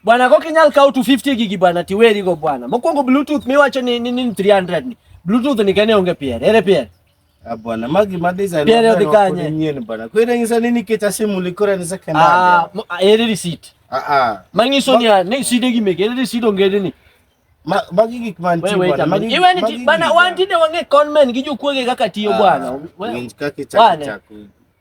Bwana ko kinyal kaw 250 gigi bwana tiweri go bwana. Mokwongo Bluetooth miwacho ni ni 300 ni. Bluetooth ni kane onge pier. Ere pier? Ah, bwana magi ma design pier odhi kanye? Nyien bwana. Ko ire ngisa nini kecha simu likora ni second. Ah, ah, ere receipt. Ah ah. Mangiso ni ne side gi mege ere receipt onge ni. Magi gik man ti bwana. Magi iwe ni bwana wantinde wange conman gi jokuoge kaka tiyo bwana. Winj kaka chako chako.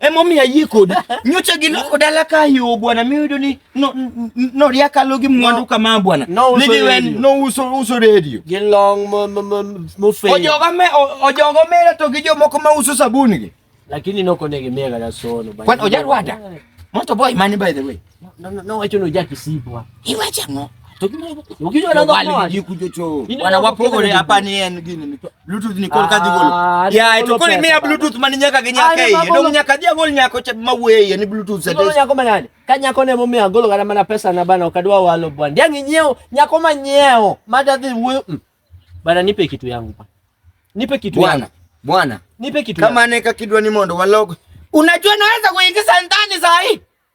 Emomiyo ayie kodi. Nyocha gi loko dala ka yo bwana miyudo ni no no ria kalo gi mwandu kama bwana. No uso radio. No uso uso radio. Gi long mo mo mo mo fe. Ojoga me ojogo me to gi jo moko ma uso sabuni gi. Lakini noko ne gi mega da sono. Kwan ojarwada. Moto boy mani by the way. No no no wacho no jaki sibwa. Iwacha ngo. Ukijua na bali jikujo cho. Wana wapogore hapa ni en gini. Bluetooth ni kol kadhi gol. Ah, ya eto kol mia Bluetooth mani nyaka ginya ah, kai. Ndo nyaka dia gol nyako cha mawe ya ni Bluetooth sasa. Ndo nyako manani. Ka nyako ne mumia gol gara mana pesa na bana ukadwa walo bwana. Dia nginyeo nyako manyeo. Mada dhi wewe. Mm. Bana nipe kitu yangu pa. Nipe kitu yangu. Bwana. Bwana. Nipe kitu. Kama neka kidwa ni mondo walog. Unajua naweza kuingiza ndani saa hii.